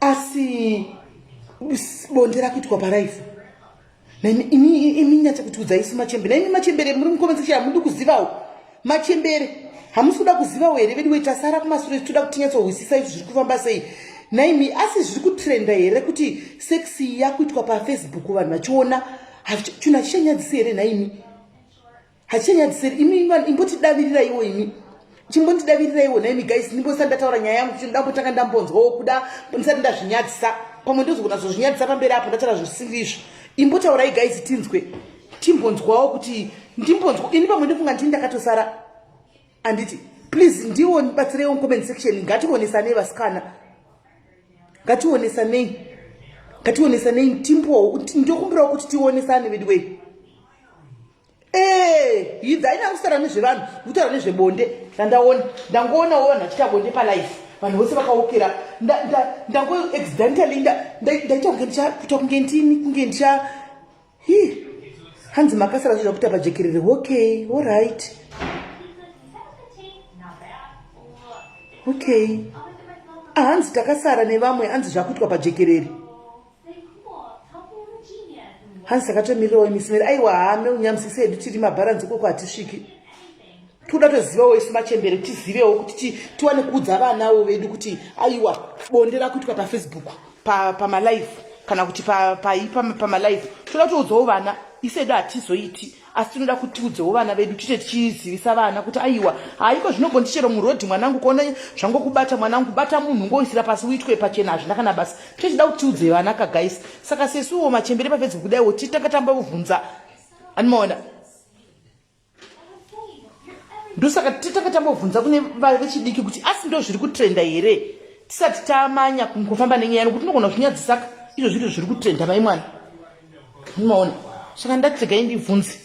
asi bonde rakuitwa paraifu imi nyatsa kutiudza isu machembere naimi machembere muri mukomesesha hamudi kuzivawo machembere hamusi kuda kuzivawo here vedu wetasara kumasure titoda kuti nyatsohwisisa izvi zviri kufamba sei naimi asi zviri kutrenda here kuti sex yakuitwa pafacebook vanhu vachiona chunhu hachichanyadzisi here naimi hachanyadziseri imi vanhu imbotidaviriraiwo imi chimbondidaviriraiwo naimi guys ndimbosati ndataura nyaya yangu ndambotanga ndambonzwawo kuda ndisati ndazvinyadzisa pamwe ndozogona zozvinyadzisa pamberi apo ndataura zvisiri izvo imbotaurai guys tinzwe timbonzwawo kuti ndimbonzwa ini pamwe ndofunga ndini ndakatosara anditi please ndiwo ndibatsireiwo mucomment section ngationesanei vasikana ngationesanei ngationesanei timbowo ndokumbirawo kuti tionesane veduwei Eh, idza ina kusara nezvevanhu kutaura nezvebonde ndandaona ndangoonawo vanhu vachiita bonde palife vanhu vose vakaokera ndango accidentally ndaita kunge ndichakuta kunge ndini kunge ndicha hi hanzi makasara zvoda kuita pajekerere okay allright okay ahanzi ah, takasara nevamwe hanzi zvakuitwa pajekerere hanzi takatomirirowo imisimeri aiwa hame unyamsise hedu tiri mabharanzi ukoko hatisviki toda tozivawo isu machembere tizivewo kuti tiwane kuudza vanawo vedu kuti aiwa bonde rakuitwa pafacebook pamalive pa kana kuti pamalive pa, pa, pa toda toudzawo vana isu hedu hatizoiti asi tinoda kuti tiudzewo vana vedu tiite tichizivisa vana kuti aiwa haiko zvinogondi chero murodhi mwanangu kuona zvangokubata mwanangu bata munhu ngoisira pasi uitwe pachena hazvina kana basa tichida kuti tiudze vana kagaisi saka sesuwo machembere pafedzi kudaiwo titanga tamba kuvhunza animaona ndosaka titanga tambovhunza kune vechidiki kuti asi ndo zviri kutrenda here tisati tamanya kufamba nenyaya nokuti tinogona zvinyadzisaka izvo zviri zviri kutrenda mai mwana mumaona saka ndati regai ndibvunze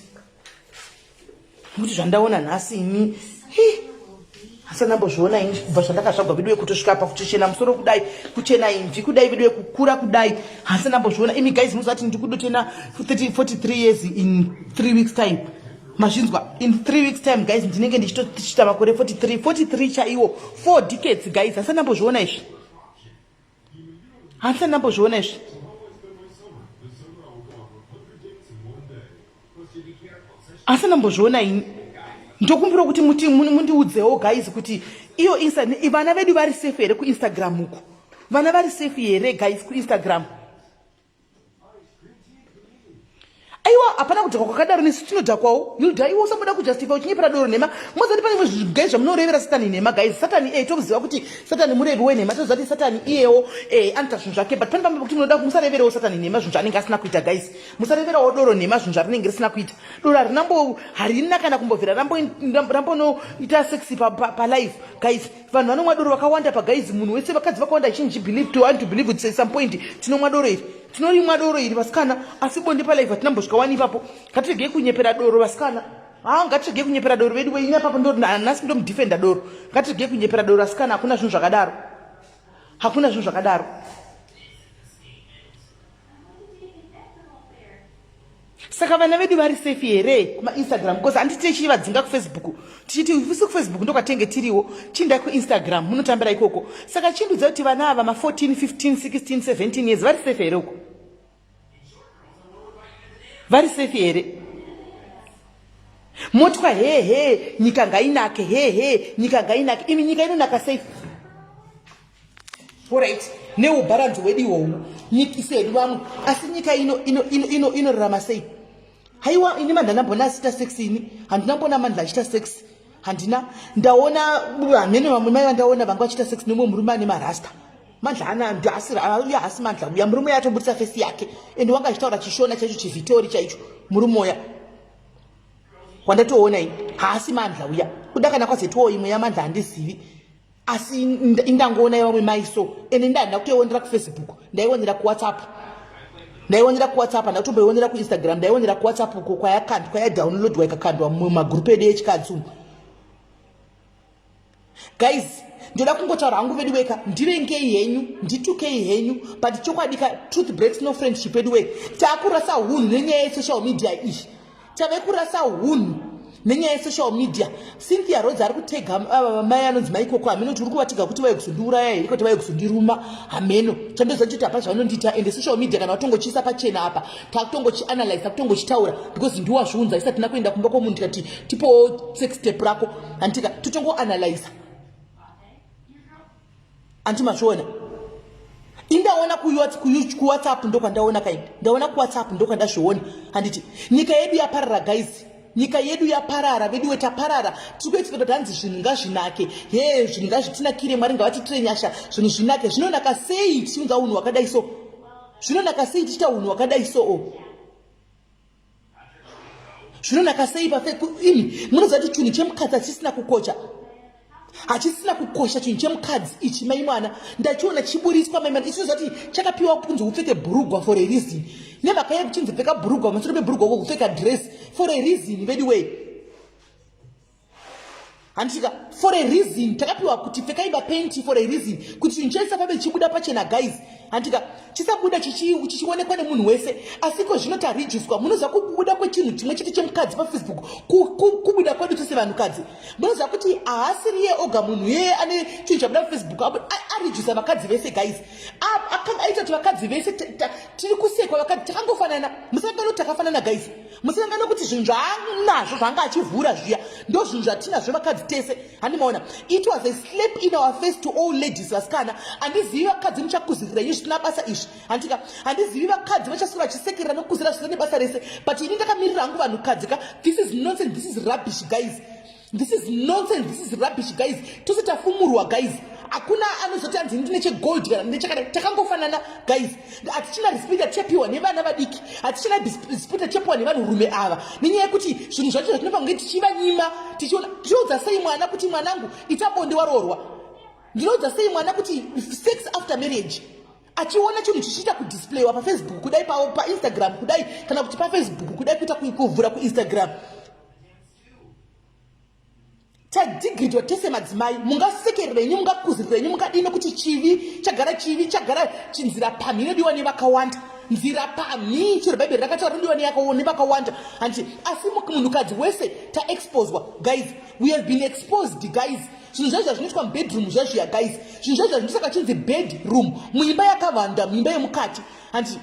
kuti zvandaona nhasi ini asi andambozviona ini kubva zvandakazvagwa vedu vekutosvika pa kutochena musoro kudai kuchena imvi kudai vedu vekukura kudai hasi andambozviona imi guys muzati ndiri kudotena 43 years in 3 weeks time mazvinzwa in 3 weeks time guys ndinenge ndichitochita makore 43 43 chaiwo 4 decades guys hasi andambozviona izvi handisati ndambozviona izvi handisati ndambozviona ini ndokumbira kuti muti mundiudzewo guys kuti iyo insta vana vedu vari safe here kuinstagram uku vana vari safe here guys kuinstagram aiwa hapana kudhakwa kwakadaro nesu tinodhakwawo yuda iwe usamboda kujustifa uchinyepera doro nhema mozati pane imwe zvigai zvamunorevera satani nhema guys satani iyeye eh, tomuziva kuti satani murevi wenhema tinozati satani iyewo eh, anoita zvinhu zvake but pane pamwe pekuti munoda musareverewo satani nhema zvinhu zvaanenge asina kuita guys musareverawo doro nhema zvinhu zvarinenge risina kuita doro harinambo harina kana kumbovhira rambonoita sexy palife guys vanhu vanomwa doro vakawanda pagaizi munhu wese vakadzi vakawanda chinji believe to want to believe with some point tinomwa doro iri tinorimwa doro iri vasikana asi bonde palive hatina mbosvika wani ipapo ngatiregei kunyepera doro vasikana haa ngatiregei kunyepera doro vedu weina papo ndonasi ndomudefenda doro ngatiregei kunyepera doro asikana hakuna zvinhu zvakadaro hakuna zvinhu zvakadaro saka vana vedu vari safe here kumainstagram bcause handiti tichii vadzinga kufacebook tichiti visi kufacebook ndokwatenge tiriwo chindai kuinstagram munotambira ikoko saka chindudza kuti vana ava ma14 15 16 17 years vari safe here uko vari safe here motwa hehe nyika ngainake hehe nyika ngainake imi nyika inonaka safe Alright, neubharanzi hwedu ihwohu nyikise hedu vamwe asi nyika ino inorarama ino, ino, ino sei haiwa ini mandana mbona asita sex ini handina mbona mandla achita sex handina ndaona hamene vamwe mai vandaona vanga vachita sex nemwe murume ane marasta mandla ana ndasirauya hasi mandla uya murume uya atobudisa fesi yake ende wanga achitaura chishona chaicho chivhitori chaicho murume uya wandatoona ini haasi mandla uya kuda kana kwazetowo imwe yamandla handizivi asi indangoona yevamwe mai so ende ndaa ndakutoionera kufacebook ndaionera kuwhatsapp ndaionera kuwhatsapp ndakutomboionera kuinstagram ndaionera kuwhatsapp uko kwayakandwa kwayadownloadwa ikakandwa mumagrupu edu echikadzi umu guys ndoda kungotaura hangu vedu weka ndirengei henyu nditukei henyu but chokwadi ka truth breaks no friendship edu wee takurasa hunhu nenyaya yesoshal media iyi tave kurasa hunhu nenyaya yesocial media cynthia rodzi ari kutega ava mai anonzi mai koko hameno kuti uri kuvatiga kuti vave kuzondiuraya here kuti vave kuzondiruma hameno chandoziva ndichoti hapa zvavanondiita ende social media kana vatongochiisa pachena apa takutongochianalyze takutongochitaura because ndiwazviunza isati na kuenda kumba kwomunhu tikati tipowo sex step rako handitika totongoanalyza Anti mazviona. Indaona kuyot kuWhatsApp ndokwandaona kaini. Ndaona kuWhatsApp ndokwandazviona. Handiti nyika yedu yaparara guys. Nyika yedu yaparara vedu weta parara. Tikuye tikuye tanzi zvinhu ngazvinake. He zvinhu ngazvitinakire Mwari ngavatitire nyasha. Zvinhu zvinake. Zvinonaka sei tichiunza unhu wakadai so. Zvinonaka sei tichita unhu wakadai so. Oh. zvinonaka sei paini munoziva kuti chinhu chemukadzi hachisina kukocha hachisina kukosha chinhu chemukadzi ichi mai mwana ndachiona chiburitswa mai mwana ichiziva kuti chakapiwa kunzi upfeke bhurugwa for a reason nemhaka yekuchinzi pfeka bhurugwa masoro mebhurugwa uko kupfeka dress for a reason veduway handitika for a reason takapiwa kuti pfekai bapenti for a reason kuti chinhu chese pabe chibuda pachena guys handitika chisabuda chichionekwa nemunhu wese asiko zvino tarijiswa munoziva kubuda kwechinhu chimwe chete chemukadzi pafacebook kubuda kwedu tese vanhukadzi munoziva kuti haasiriye oga munhu yeye ane chinhu chabuda pafacebook arijusa vakadzi vese guys akanga aita kuti vakadzi vese tiri kusekwa vakadzi takangofanana musakanoti takafanana guys musiyanga nokuti zvinhu zvaanazvo zvaanga achivhura zviya ndo zvinhu zvatinazvo vakadzi tese handimaona it was a slap in our face to all ladies vasikana handizivi vakadzi muchakuzirira inyu zvisina basa izvi handitika handizivi vakadzi vachasura vachisekerera nokuzira zvisina nebasa rese but ini ndakamirira hangu vanhukadzi ka this is nonsense this is rubbish guys This is nonsense, this is rubbish guys. Tose tafumurwa guys. Hakuna anozoti hanzi ndine chegold kana ndine chakadai. Takangofanana guys. Hatichina respect yatichapiwa nevana vadiki. Hatichina respect yatichapiwa nevanhurume ava. Nenyaya yekuti zvinhu zvacho zvatinopa kunge tichivanyima tichiona tinoudza sei mwana kuti mwanangu ita bonde waroorwa. Ndinoudza sei mwana kuti sex after marriage achiona chinhu chichiita kudisplayiwa pafacebook kudai painstagram kudai kana kuti pafacebook kudai kuita kuvhura kuinstagram pa tadigridwa tese madzimai mungasekerera inyu mungakuzirira inyu mungadii nekuti chivi chagara chivi chagara chinzira pamhi inodiwa nevakawanda nzira pamhi chero bhaibheri rakataura rodiwa nevakawanda hanti asi munhukadzi wese taexposwa guys we have been exposed guys zvinhu zvaizva zvinoitwa mubedroom zvazviya guys zvinhu zvaizva zvinoisa kachinzi bedroom muimba yakavanda muimba yemukati hanti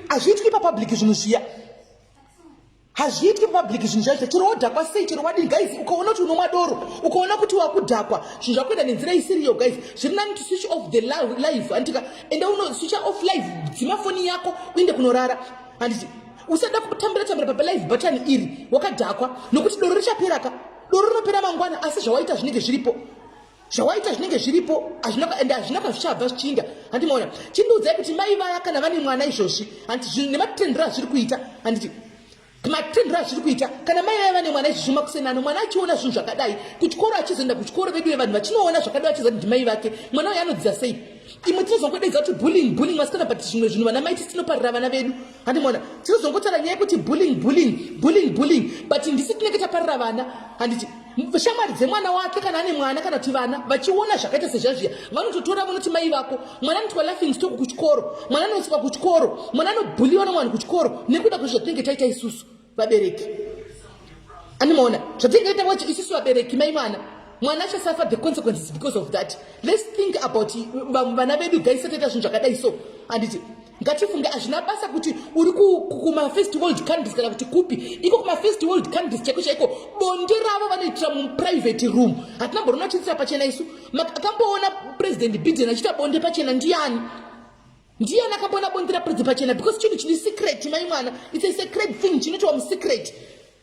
hazviitwi papublic zvinhu zviya hazviitwe public zvinhu zvacho chero wodhakwa sei chero wadini guys ukaona kuti unomwa doro ukaona kuti wakudhakwa zvinhu zvakuenda nenzira isiriyo guys zviri nani to switch off the live handitika enda uno switch off live dzima foni yako uende kunorara handiti usada kutambira tambira papa live button iri wakadhakwa nokuti doro richapera ka doro rinopera mangwana asi zvawaita zvinenge zviripo zvawaita zvinenge zviripo and hazvina kwazvichabva zvichiinda handi maona chindiudzai kuti mai vaya kana vane mwana izvozvi handi nematendero azviri kuita handiti matendero azviri kuita kana mai vaya vane mwana izvozvi makusenano mwana achiona zvinhu zvakadai kuchikoro achizoenda kuchikoro vedu vevanhu vachinoona zvakadai achiza kuti ndimai vake mwana uyo anodzidza sei imwe tinozongodaidza kuti bulling bulling masikana but zvimwe zvinhu vana maiti tinoparira vana vedu handimona tinozongotaura nyaya yekuti bulling bulling bulling bulling but ndisi tinenge taparira vana handiti shamwari dzemwana wake kana ane mwana kana kuti vana vachiona zvakaita sezvazviya vanototora vanoti mai vako mwana anoitwa laughing stock kuchikoro mwana anoiswa kuchikoro mwana anobhuliwa nomwana kuchikoro nekuda kwezvatinenge taita isusu vabereki animoona zvatingaita wacho isusu vabereki mai mwana mwana achasafa the consequences because of that let's think about vamwe vana vedu gaisataita zvinhu zvakadai so handiti ngatifunge hazvina basa kuti uri kumafirst world countries kana kuti kupi iko kumafirst world countries chaiko chaiko bonde ravo vanoitira muprivate room hatina borona chiitira pachena isu akamboona president biden achiita bonde pachena ndiyani ndiyani akamboona bonde rapedza pachena because chinhu chine secret mai mwana its a secret thing chinotiwa musecret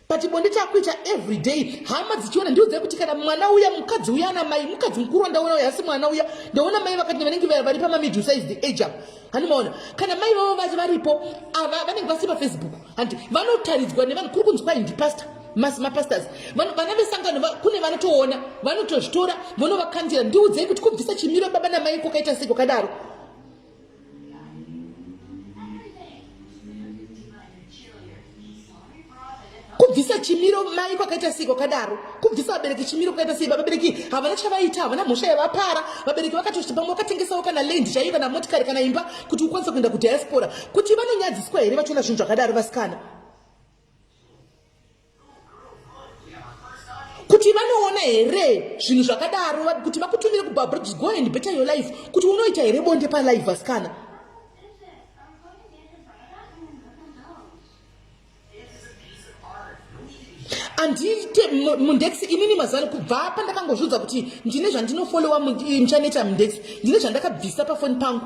but bonde takuita every day hama dzichiona ndiudzai kuti kana mwana uya mukadzi uya ana mai mukadzi mukuru wandaona uya asi mwana uya ndaona mai vakati vanenge vari pamamiddle size the age apo hanimaona kana mai vavo vati varipo ava vanenge vasiri pafacebook handi vanotaridzwa nevanhu kuri kunzi kwai ndipastor mapastors vana vesangano kune vanotoona vanotozvitora vonovakandira ndiudzei kuti kubvisa chimiro baba namai kwakaita sei kwakadaro kubvisa chimiro mai kwakaita sei kwakadaro kubvisa vabereki chimiro kwakaita sei vabereki havana chavaita havana mhosva yavapara vabereki vakatoti pamwe vakatengesawo kana land chaiyo kana motikari kana imba kuti ukwanise kuenda kudiaspora kuti vanonyadziswa here vachiona zvinhu zvakadaro vasikana kuti vanoona here zvinhu zvakadaro kuti vakutumire kubabridge go and better your life kuti unoita here bonde palive vasikana andiite mundex inini mazuvano kubva pandakangozviudza kuti ndine zvandinofolowa muchaneta mundex ndine zvandakabvisa pafoni pangu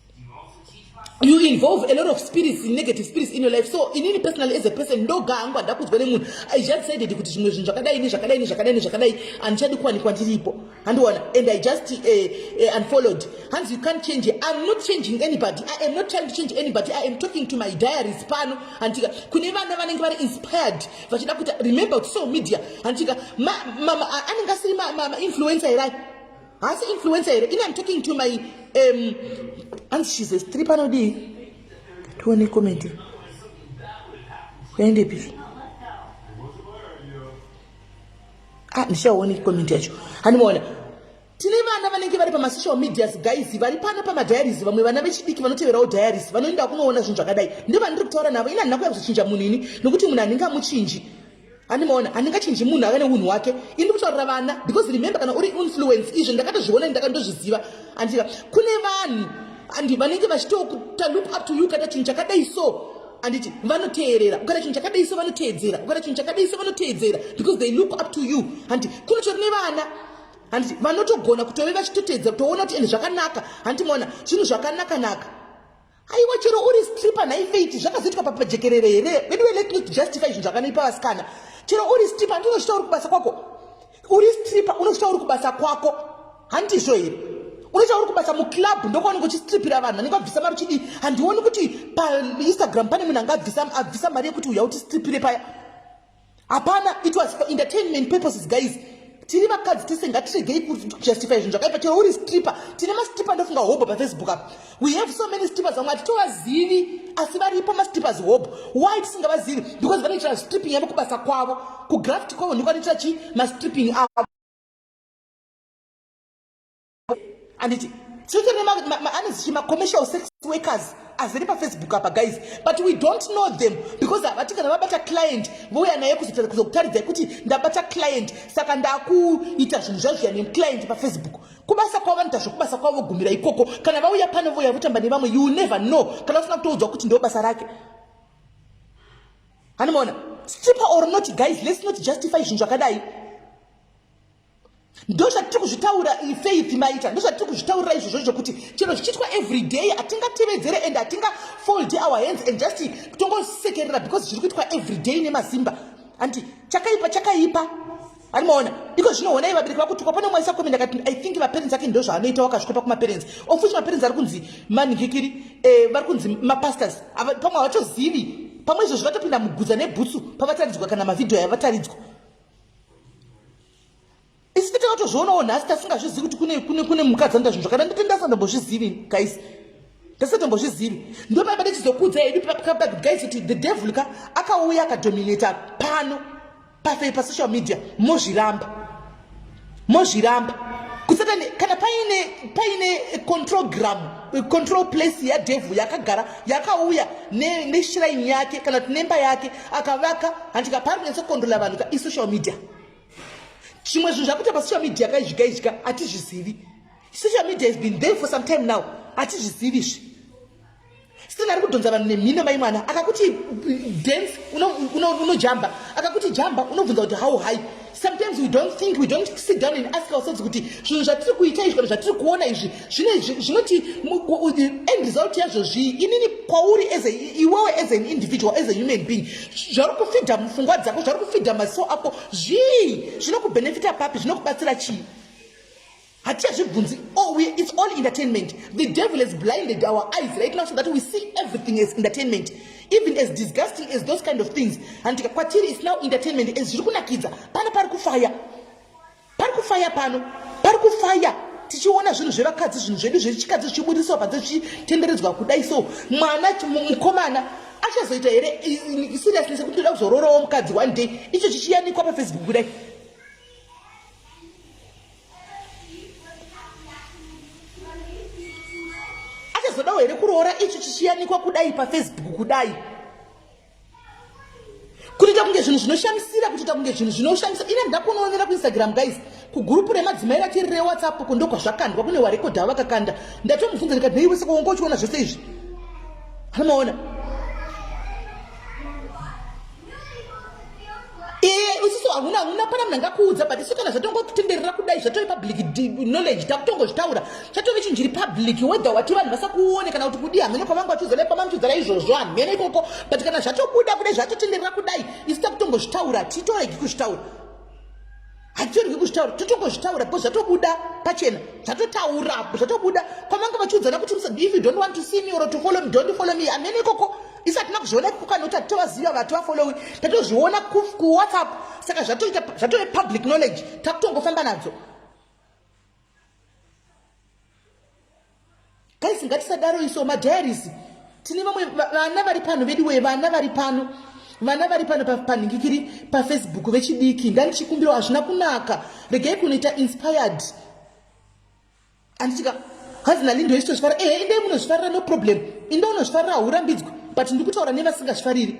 you involve a lot of spirits negative spirits in your life so inini personally as a person ndoga hangu hada kudzwa nemunhu i just saided kuti zvimwe zvinhu zvakadai ne zvakadai ne zvakadai ne zvakadai handichadi kuwanikwa ndiripo handiona and i just uh, uh, unfollowed hanzi you can't change it. i'm not changing anybody i am not trying to change anybody i am talking to my diaries pano handitika kune vana vanenge vari inspired vachida kuti remember kuti so media handitika anenge asiri mainfluencer erai haasi influencer here ini am talking to my um, hanzi shes a strip anodii tione comment kuende pipi ah, ndichaone comment yacho handimaona tine vana vanenge vari pamasocial medias guys vari pana pamadiaries vamwe vana vechidiki vanoteverawo diaries vanoenda kunoona zvinhu zvakadai ndivandiri kutaura navo ini handina kuya kuzochinja munhu ini nokuti munhu handingamuchinji andimaona handingachinji munhu ave neunhu wake ini ndikutaurira vana because remember kana uri influence izvi ndakatozviona ini ndakandozviziva andika kune vanhu andi vanenge vachitokuta look up to you kana chinhu chakadai so anditi vanoteerera ukana chinhu chakadai so vanoteedzera ukana chinhu chakadai so vanoteedzera because they look up to you andi kune chori nevana handiti vanotogona kutove vachitoteedza kutoona kuti ende zvakanaka handiti maona zvinhu zvakanakanaka aiwa chero uri stripper nhai faith zvakazoitwa papajekerere here veduwe let me justify zvinhu zvakanoipa vasikana chero uri stripper hanti unozvita uri kubasa kwako uri stripper unozvita uri kubasa kwako handizvo here unoita uri kubasa muclub ndokwaunenge uchistripira vanhu vanenge vabvisa mari uchidii handioni kuti painstagram pane munhu anga abvisa mari yekuti uya utistripire paya hapana it was for entertainment purposes guys tiri vakadzi tese ngatiregei kujustify zvinhu zvakaipa chero uri stripper tine mastripper ndofunga hobho pafaceebook apa we have so many strippers vamwe hatitovazivi asi varipo mastrippers hobho why tisingavazivi because vanoitira stripping yavo kubasa kwavo kugraft kwavo ndiko vanoitira chii mastripping avo anditi tete neanezvichi macommercial sex workers azere pafacebook apa guys but we don't know them because havati kana vabata client vouya naye kuzokutaridzai kuti ndabata client saka ndakuita zvinhu zvazviya neclient pafacebook kubasa kwavo vanoita zvekubasa kwavo vogumira ikoko kana vauya pano vouya votamba nevamwe you never know kana usina kutoudzwa kuti ndo basa rake hanimona stripper or not guys let's not justify zvinhu zvakadai ndozvatiri kuzvitaura faith maita ndozvatiri kuzvitaurira izvozvo zvokuti chero zvichiitwa every day hatingatevedzere and hatingafold our hands and just tongosekerera because zviri kuitwa every day nemasimba handi chakaipa chakaipa ari maona iko zvino honai vabereki vakutukwa pane mwaisa komenda kati i think vaparents ake ndo zvaanoita wakazvikopa kumaparents of which maparents ari kunzi manhikikiri eh, vari kunzi mapastors pamwe havatozivi pamwe izvozvo vatopinda mugudza nebhutsu pavataridzwa kana mavhidhiyo yavataridzwa isi titakatozvionawo nhasi tasingazvizivi kuti kune kune kune mhuka dzanoita zvinhu zvakada nditi ndasandambozvizivi guys ndasandambozvizivi ndopaipa ndichizokudza hedu pakabag guys kuti the devil ka akauya akadominata pano pafei pasocial media mozviramba mozviramba kusatani kana paine paine control gram control place yadevhu yakagara yakauya neshiraini ne yake kana kuti nemba yake akavaka handika pari kunatsa kukondrola vanhu ka isocial media zvimwe zvinhu zvakuita pasocial media kaizvika izvika hatizvizivi social media has been there for some time now hatizvizivi izvi Stella ari kudhonza vanhu nemhino mai mwana akakuti dance unojamba akakuti jamba unobvunza kuti how high sometimes we don't think we don't sit down and ask ourselves kuti zvinhu zvatiri kuita izvi kana zvatiri kuona izvi zvinoti end result yazvo zvii inini kwauri iwewe as an individual as a human being zvari kufidha mufungwa dzako zvari kufidha maso ako zvii zvinokubenefita papi zvinokubatsira chii hatichazvibvunzi oh, we, it's all entertainment the devil has blinded our eyes right now so that we see everything as entertainment even as disgusting as those kind of things and kwatiri is now entertainment as zviri kunakidza pano pari kufaya pari kufaya pano pari kufaya tichiona zvinhu zvevakadzi zvinhu zvedu zvechikadzi zvichibudisawo panze zvichitenderedzwa kudai so mwana mukomana achazoita here seriousness yekuti toda kuzoroorawo mukadzi one day icho chichiyanikwa pafacebook kudai achazodawo here kuroora ichi chichiyanikwa kudai pafacebook kudai kutoita kunge zvinhu zvinoshamisira kutoita kunge zvinhu zvinoshamisa ine ndakunoonera kuinstagram guys kugurupu remadzimai ratiri rewhatsapp ko ndokwazvakandwa kune warekodha vakakanda ndatomubvunza ndikati neiwe saka wanga uchiona zvese izvi hanomaona isiso hamuna hamuna pana munhu angakuudza but isu kana zvatongotenderera kudai zvatove public knowledge takutongozvitaura chatove chinhu chiri public whether wati vanhu vasakuone kana kuti kudii hamene kwavanga vachiudzana pamanochiudzana izvozvo hamene ikoko but kana zvatobuda kudai zvatotenderera kudai isu takutongozvitaura titoregi kuzvitaura hatitorwi kuzvitaura totongozvitaura because zvatobuda pachena zvatotaura zvatobuda kwamanga vachiudzana kuti if you don't want to see me or to follow me don't follow me amene ikoko isi hatina kuzviona ikoko kana kuti hatitovaziva vati vafollowi tatozviona kuwhatsapp saka zvatoita zvatove public knowledge takutongofamba nadzo Guys ngatisadaro iso ma diaries. Tine vamwe vana vari pano vedu we vana vari pano. Vana vari pano panhingikiri pa Facebook vechidiki ngandichikumbiro hazvina kunaka. Regai kunoita inspired. Andichika hanzi nali ndoisitozvifarira ehe eh, inde munozvifarira no problem inde unozvifarira haurambidzwe but ndikutaura nevasingazvifariri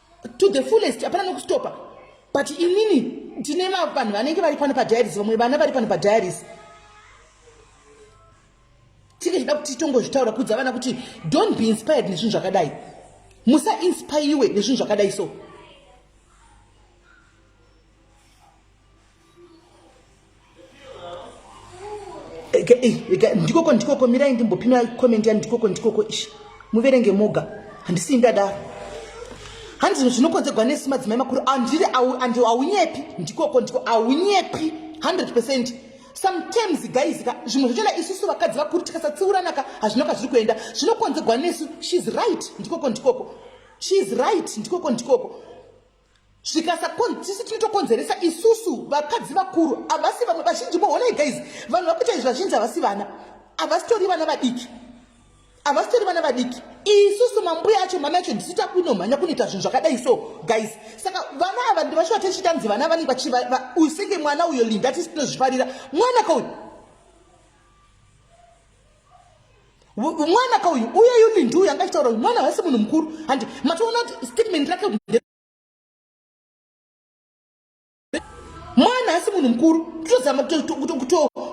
to the fullest hapana nokustopa but inini tine vanhu vanenge vari pano padiaris vamwe vana vari pano padiaris tinge chida kuti tongozvitaura kudza vana kuti don't be inspired nezvinhu zvakadai musainspaiwe nezvinhu zvakadai so ndikoko ndikoko mirai ndimbopima comment yani ndikoko ndikoko ishi muverenge moga handisii ndadaro handi zvinhu zvinokonzegwa nesi madzimai makuru andiri andi haunyepi ndikoko ndiko haunyepi 100 percent sometimes guys ka zvimwe zvochona isusu vakadzi vakuru tikasatsiuranaka hazvino ka zviri kuenda zvinokonzegwa nesu sheis right ndikoko ndikoko sheis right ndikoko ndikoko zvikasakon tisu tinotokonzeresa isusu vakadzi vakuru havasi vamwe vazhinji mohonai guys vanhu vakuita izvi vazhinji havasi vana havasitori vana vadiki havasitori vana vadiki isusu mambuya acho mama yacho ndisu takuinomhanya kunoita zvinhu zvakadai so guys saka vana ava ndivashuva tichitanzi vana vanenge vachiusenge mwana uyo linda tisi tinozvifarira mwana kauyu mwana ka uyu uye yu lindu uyu angachitaura uyu mwana haasi munhu mukuru handi matoona kuti statement rake mwana haasi munhu mukuru totozama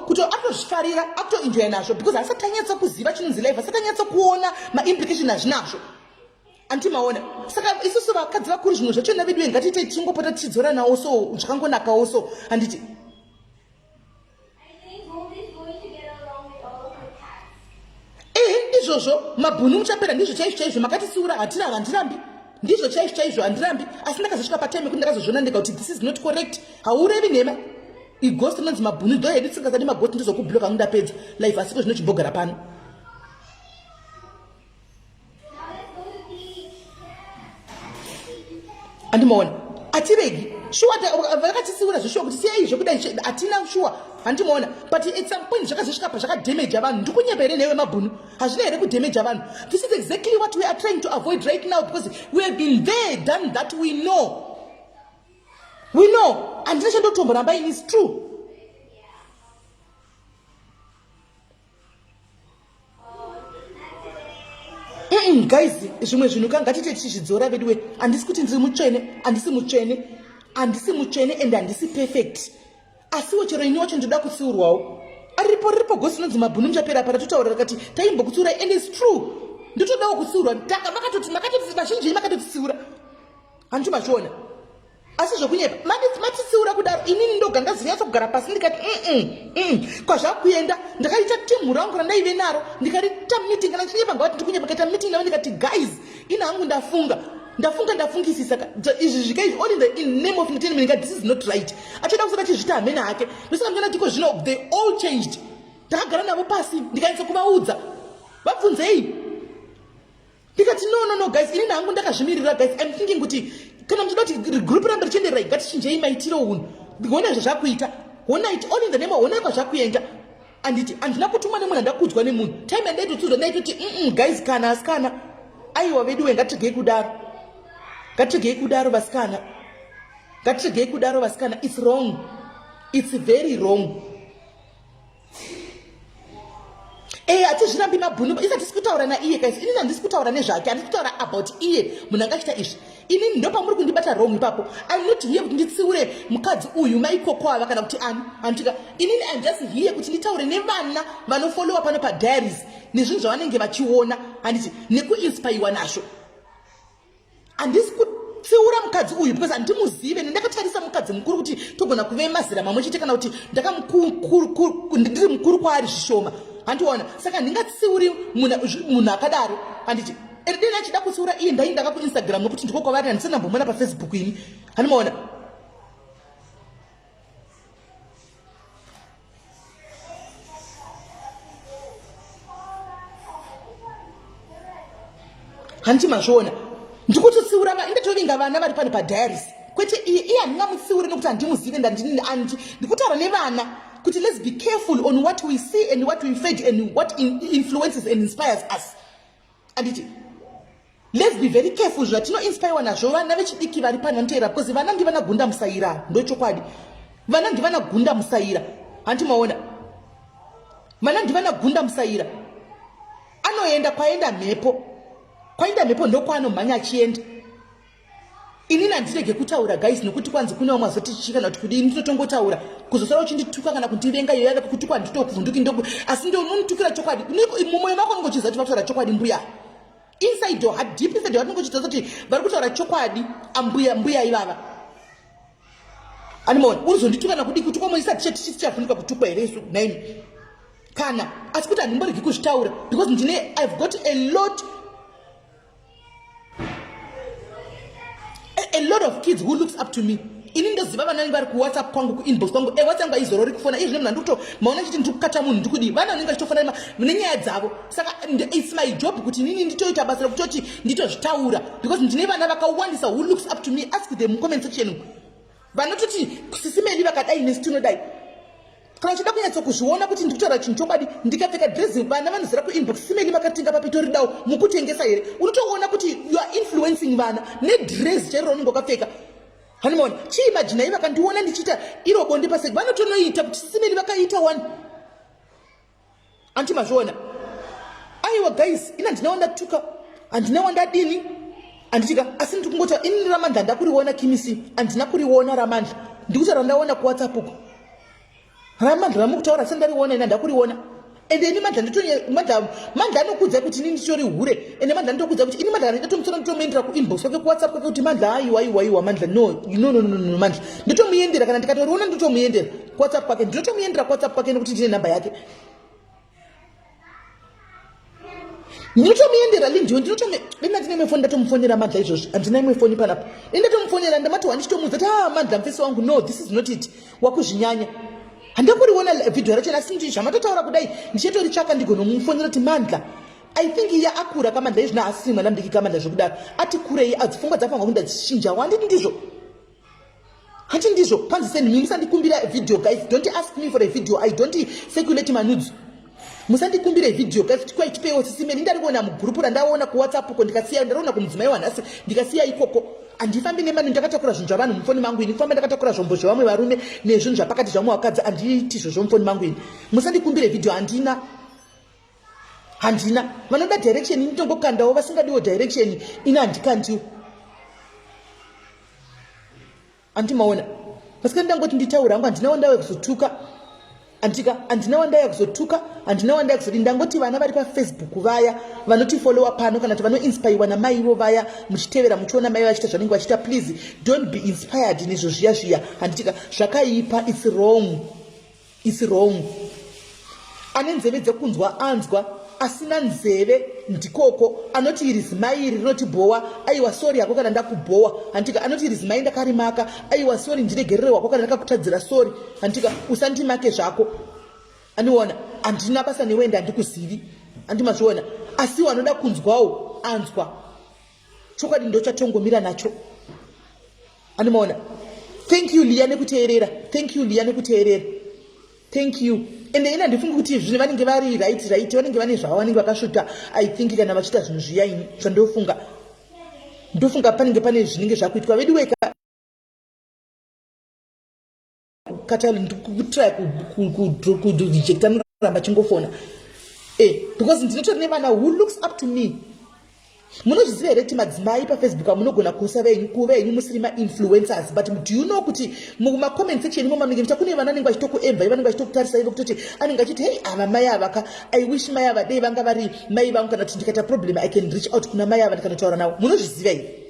kutozvifarira akutoenjoya nazvo because asati anyatsa kuziva chinonzi life asati anyatsa kuona maimplication azvinazvo anti maona saka isusu vakadzi vakuru zvimwe zvacho na vedu vengatiite tichingopota tichidzoranawo so zvakangonakawo so handiti ehe izvozvo mabhunu muchapera ndizvo chaizvo chaizvo makatisiura hatina handirambi ndizvo chaizvo chaizvo handirambi asi ndakazosvika patime kuti ndakazozviona ndega kuti this is not correct haurevi nhema igost inonzi mabhunu do hedu tisingazadi magost ndizokubloka kundapedza life asiko zvinochibhogara pano andimaona atiregi shuwa vakatisiura zveshuwa kuti siyai zvekuda hatina shuwa handimaona but at some point zvakazosvika pa zvakadamaja vanhu ndikunyeba here newe mabhunu hazvina here kudamaja vanhu this is exactly what we are trying to avoid right now because we have been there done that we know we know handina chandotomboramba ini is true Mm, guys zvimwe zvinhu ka ngatite tichizvidzora veduwe handisi kuti ndiri mutsvene handisi mutsvene handisi mutsvene and handisi perfect asiwo chero ini wacho ndinoda kutsiurwawo aripo riripo gosi inonzi mabhunu muchapera pa ratotaura rakati taimbokutsiurai and its true ndotodawo kutsiurwa taka makatoti makatoti vazhinji makatotitsiura handicho mazviona asi zvokunyepa matitsiura kudaro inini ndoga ndazonyatsogara pasi ndikati mm kwazvakuenda ndakaita timhu rangu randaive naro ndikariita meeting kana ndichinyepa ngavati ndikunyepa kaita meeting navo ndikati guys ini hangu ndafunga ndafunga ndafungisisa izvi zvika izvi all in the in name of entertainment nga this is not right achoda kusada chizvita hamene hake ndosaka ndikana tiko zvino they all changed ndakagara navo pasi ndikanyatsa kuvaudza vabvunzei ndikati no no no guys inini hangu ndakazvimirira guys im thinking kuti kana muchida kuti regroup rambe richenderai ngatichinjei maitiro unhu honai zvazvakuita honai all in the name honai kwazvakuenda anditi handina kutumwa nemunhu andakudzwa nemunhu time yandaitotsidzwa ndaitoti mm guys kana asikana aiwa vedu we ngatiregei kudaro ngatiregei kudaro vasikana ngatiregei kudaro vasikana its wrong its very wrong Eh, hatizvirambi mabhunu isa tisi kutaura naiye guys inini handisi kutaura nezvake handisi kutaura about iye munhu anga achita izvi inini ndopamuri kundibata wrong ipapo im not here kuti nditsiure mukadzi uyu maikoko ava kana kuti ani handitika inini im just here kuti nditaure nevana vanofollowa pano padiaries nezvinhu zvavanenge vachiona handiti nekuinspaiwa nazvo handisi kutsiura mukadzi uyu because handimuzive ndakatarisa mukadzi mukuru kuti togona kuve mazera mamwe chete kana kuti ndakamdiri mukuru kwaari zvishoma handiona saka handingatsiuri munhu akadaro handiti and then achida kutsiura iye ndai ndaka kuinstagram nokuti ndiko kwavari handisana mbomona pafacebook ini handimaona hanti mazviona ndikutotsiura ndatovinga vana vari pano padiaris kwete iye iye handingamutsiuri nokuti handimuzive ndandini andi ndikutaura nevana kuti let's be careful on what we see and what we fed and what in influences and inspires us anditi let's be very careful zvatinoinspirewa nazvo vana vechidiki vari pano nteera because vana ndivana gunda musaira ndochokwadi vana ndivana gunda musaira hanti maona vana ndivana gunda musaira anoenda kwaenda mhepo kwaenda mhepo ndokwaano mhanya achienda inini handirege kutaura guys nokuti kwanzi kune vamwe vazoti chii kana kuti kudii ndinotongotaura kuzosara uchindituka kana kundivenga iyo yave kutukwa handitokuvhunduki ndoku asi ndo unonditukira chokwadi mumwoyo mako unenge uchiziva kuti vakutaura chokwadi mbuya inside your heart deep inside your heart unenge uchiziva kuti vari kutaura chokwadi ambuya mbuya ivava animoni urizondituka nakudii kutukwa moisa tichatichichafunika kutukwa here isu naimi kana asi kuti handimboregi kuzvitaura because ndine ihave got a lot a lot of kids who looks up to me ini ndoziva vana vanenge vari kuwhatsapp kwangu kuinbox kwangu e eh, whatsapp aizorori kufona izvi nemna ndikuto maona chiti ndiri kukata munhu ndikudii vana vanenge vachitofona nenyaya dzavo saka its my job kuti inini nditoita basa rekutoti nditozvitaura because ndine vana vakawandisa who looks up to me ask them comment section vanototi sisimedi vakadai nesu tinodai kana uchida kunyatsa kuzviona kuti ndiri kutaura chinhu chokwadi ndikapfeka dressing vana vanozara kuinbox simeni makatenga papitoridawo mukutengesa here unotoona kuti you are influencing vana nedress chairo raunenge wakapfeka hanimona chii majinai vakandiona ndichiita iro bonde paseki vanotonoita kuti simeni vakaita wani anti mazviona aiwa guys ini handina wandatuka handina wandadini handitika asi ndiri kungota ini ramandla ndakuriona kimisi handina kuriona ramandla ndikuti randaona kuwhatsapp uko ramandla ramukutaura asi ndariona ini handakuriona ende ini mandla nditomandla mandla anokudza kuti ini nditori hure ende mandla nditokudza kuti ini mandla ndatomusora nditomuendera kuinbox kwake kuwhatsapp kwake kuti mandla aiwa aiwa aiwa mandla no no no no no mandla nditomuendera kana ndikatoriona nditomuendera kuwhatsapp kwake ndinotomuendera kuwhatsapp kwake nekuti ndine nhamba yake ndinotomuendera lindiwe ndinotoendandine imwe foni ndatomufonera madla izvozvi handina imwe foni panapa indatomufonera ndamatowa ndichitomuudza kuti ha ah, madla mfesi wangu no this is not it wakuzvinyanya handina kuriona vhidhiyo racho asi ndi zvamatotaura kudai ndichitoritsvaka ndigonomufonera kuti mandla i think iye akura kamandla izvino asiri mwana mudiki kamandla zvekudaro ati kurei adzipfungwa dzapangwa kundadzichinja wanditi ndizvo hati ndizvo panzi seni mi musandikumbira video guys don't ask me for a video i don't circulate manudzo musandikumbire video guys kuti kwai tipeiwo sisi meni ndarikuona mugurupu randaona kuwhatsapp uko ndikasiya ndariona kumudzimai wanhasi ndikasiya ikoko handifambi nemani ndakatakura zvinhu zvavanhu mufoni mangu ini kufamba ndakatakura zvombo zvevamwe varume nezvinhu zvapakati zvamwe vakadzi handiiti izvo zvomufoni mangu ini musandikumbire video handina handina vanoda direction ini tongokandawo vasingadiwo direction ini handikandiwo andimaona pasika ndangoti nditaura hangu handina wandauya kuzotuka andika handina wandauya kuzotuka handina wandauya kuzodi ndangoti vana vari pafacebook vaya vanotifolowa pano kana kuti vanoinspiriwa namai ivo vaya muchitevera muchiona mai vachiita zvanenge vachiita please don't be inspired nezvo zviya zviya handitika zvakaipa its wrong It's wrong. Ane nzeve dzekunzwa anzwa asina nzeve ndikoko anoti iri zimai iri rinotibhowa aiwa sori yako kana ndakubhowa hantika anoti iri zimai ndakarimaka aiwa sori ndiregerere wako kana ndakakutadzira sori hantika usandimake zvako aniona handina basa newende handikuzivi andimazviona asiwo anoda kunzwawo anzwa chokwadi ndochatongomira nacho andimaona thank you liya nekuteerera thank you liya nekuteerera thank you ende ini handifungi kuti zvine vanenge vari right right vanenge vane zvavo vanenge vakasvota i think kana vachiita zvinhu zviya ini zvandofunga ndofunga panenge pane zvinenge zvakuitwa veduweka Katali ndikutry kudhijekta noramba chingofona eh, because ndinotori nevana who looks up to me munozviziva here kuti madzimai pafacebook amunogona kusa venyu kuva henyu musiri mainfluencers but do you know kuti mumacomment section imo maminge mucha kune vana anenge vachitokuemvai vanenge vachitokutarisai vekutoti anenge achiti hei ava mai avaka i wish mai ava dei vanga vari mai vangu kana kuti ndikaita problem i can reach out kuna mai ava ndikanotaura navo munozviziva here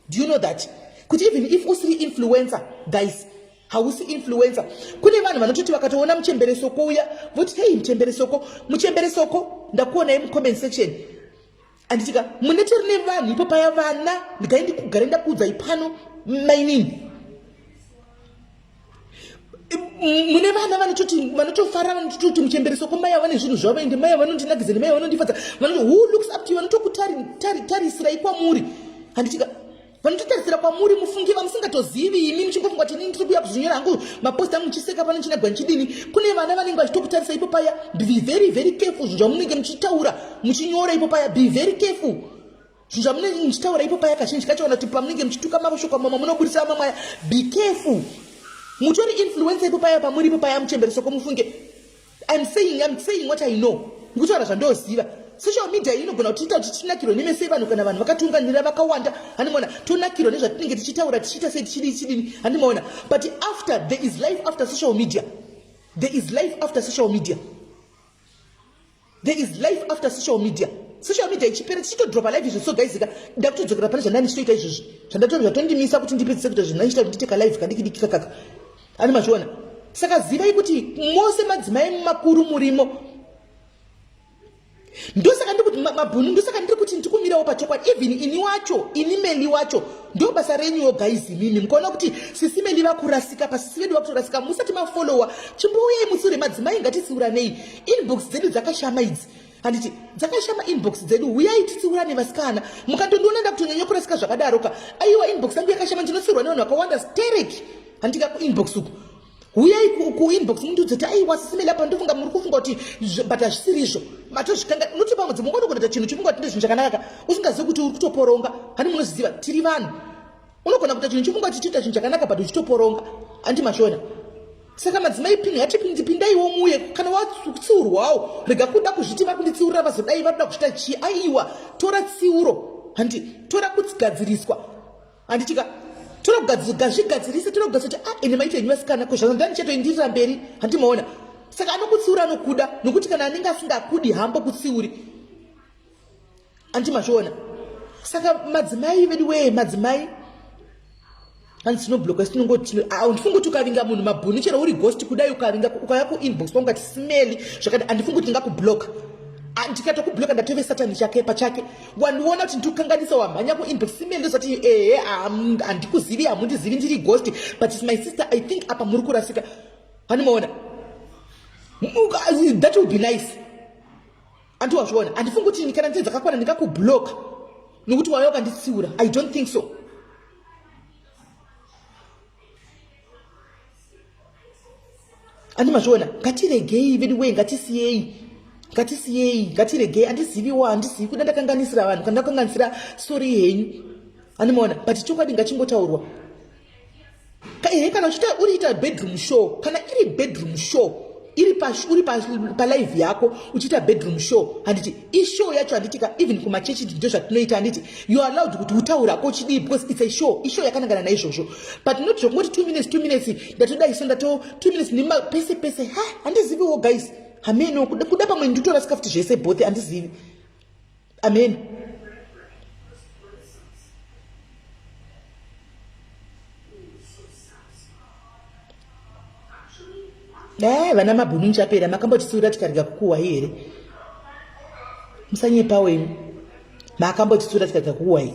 Do you know that? Kuti even if usiri influencer, guys, hausi influencer. Kune vanhu vanototi vakatoona muchembere soko uya, voti hey muchembere soko, muchembere soko, ndakuonai mucomment section. Anditika, munete rine vanhu ipo paya vana, ndikaendi kugare ndakuudzai pano, mainini. mune vana vanototi vanotofara vanototi muchembereso kwamai ava nezvinhu zvavo ende mai vanondinakidza nemai vanondifadza vanoti who looks up to you vanotokutarisira ikwamuri handitika vanototarisira kwamuri mufungi vamusingatozivi imi muchingofunga kuti inini tikuuya kuzvinyora hangu mapost angu muchiseka pano chinagwa ndichidini kune vana vanenge vachitokutarisa ipo paya be very very careful zvinhu zvamunenge muchitaura muchinyora ipo paya be very careful zvinhu zvamunenge muchitaura ipo paya kazhinji kacho kana kuti pamunenge muchituka mashoko amama munobudisa amamwe aya be careful mutori influensa ipo paya pamuri ipo paya muchembere soko mufunge im saying im saying what i know ndikutaura zvandoziva social media iyi inogona kutiita kuti tinakirwe nemese vanhu kana vanhu vakatunganira vakawanda handimaona tonakirwa nezvatinenge tichitaura tichiita sei tichidii chidini handimaona but after there is life after social media there is life after social media There is life after social media. Social media ichipera tichitodropa live izvi sogaizika ndakutodzokera pane zvandani ndichitoita izvozvi zvandatondimisa kuti ndipedzise kuita zvinhu ndichita kuti nditeka live kandikidikika kaka ani mazviona saka zivai kuti mose madzimai makuru murimo ndosaka ndikuti mabhunu ndosaka ndiri kuti ndikumirawo pachokwadi even ini wacho ini meli wacho ndo basa renyu yo guys mimi mukaona kuti sisi meli vakurasika pasisi vedu vakutorasika musati mafolowa chimbouyai musure madzimai ngatisiuranei inbox dzedu dzakashama idzi handiti dzakashama inbox dzedu huyai titsiurane vasikana mukatondiona ndakutonyanya kurasika zvakadaroka aiwa inbox yangu yakashama ndinotsiurwa nevanhu vakawanda sterek handitika kuinbox uku huyai kuinbox mundiudze kuti aiwa sisimela pa ndofunga muri kufunga kuti but hazvisiri izvo matozvikanga unoti pamwe dzimwe ngonokunoita chinhu chofunga kuti ndezvinhu chakanakaka usingazivi kuti uri kutoporonga hani munozviziva tiri vanhu unogona kuita chinhu chifunga kuti chiita chinhu chakanaka but uchitoporonga andi mashona saka madzimai pini hatipindi pindaiwo muye kana watsiurwawo rega kuda kuzviti vakunditsiurira vazodai vanoda kuzvita chii aiwa tora tsiuro handi tora kugadziriswa handitika togazvigadzirise tonogadzira kuti ah ende maito enyu vasikana ko zvazandani chatoindirira mberi handimaona saka anokutsiura anokuda nokuti kana anenge asingakudi hambo kutsiuri anti mazviona saka madzimai vedu wee madzimai hanzi tinobloka sinongoti handifungi kuti ukavinga munhu mabhuni chero uri ghost kudai ukavinga ukaya kuinbox pangu kati smeli zvakati handifungi kuti ndingakubloka ndikatokubloka ndatove satani chake pachake wandiona kuti ndikukanganisa wamhanya kuinbox smeli ndozati ehe handikuzivi hamundizivi ndiri ghost but is my sister i think apa muri kurasika handimaona that will be nice Anti wazviona handifungi kuti ini kana ndine dzakakwana ndingakubloka nokuti waya ukanditsiura i don't think so andi mazviona ngatiregei vedu wee ngatisiyei ngatisiyei ngatiregei andiziviwa handizivi kuda ndakanganisira vanhu kana ndakanganisira sori henyu andimaona but chokwadi ngachingotaurwa ehe kana uchita uriita bedroom show kana iri bedroom show iri uri palive yako uchiita bedroom show handiti ishow yacho handiti ka even kumachechi ndindo zvatinoita handiti you are allowed kuti utaura ko chidii because it's a show ishow yakanangana naizvozvo but not zvokungoti two minutes two minutes ndatoda iso ndato two minutes nima pese pese ha handiziviwo guys hameno kuda pamwe nditorasika futi zvese both handizivi amen dai vana mabhunu muchapera makambotitsiura tikarega kukuwai here musanyepawo imi makambotitsiura tikarega kukuwai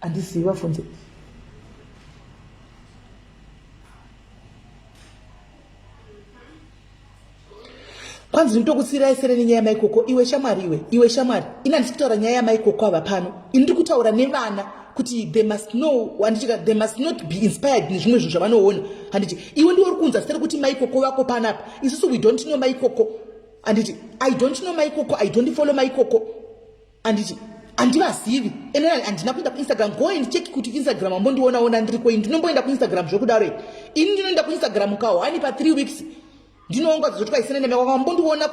Andizivi vafunze. kwanzi ndinotokusiirai sere nenyaya yamaikoko iwe shamwari iwe iwe shamwari ini handisi kutaura nyaya yamaikoko ava pano ini ndiri kutaura nevana kuti they must know handitika they must not be inspired nezvimwe zvinhu zvavanoona handiti iwe ndiwe uri kunza sere kuti maikoko vako panapa isusu we don't know maikoko handiti i don't know maikoko i don't follow maikoko anditi handivazivi enorali handina kuenda kuinstagram go and check kuti instagram ambondionaona ndiriko ini ndinomboenda kuinstagram zvekudaro ini ndinoenda kuinstagram kawo ani pa three weeks ndinoonga dzozotwa isina nemeko ambondiona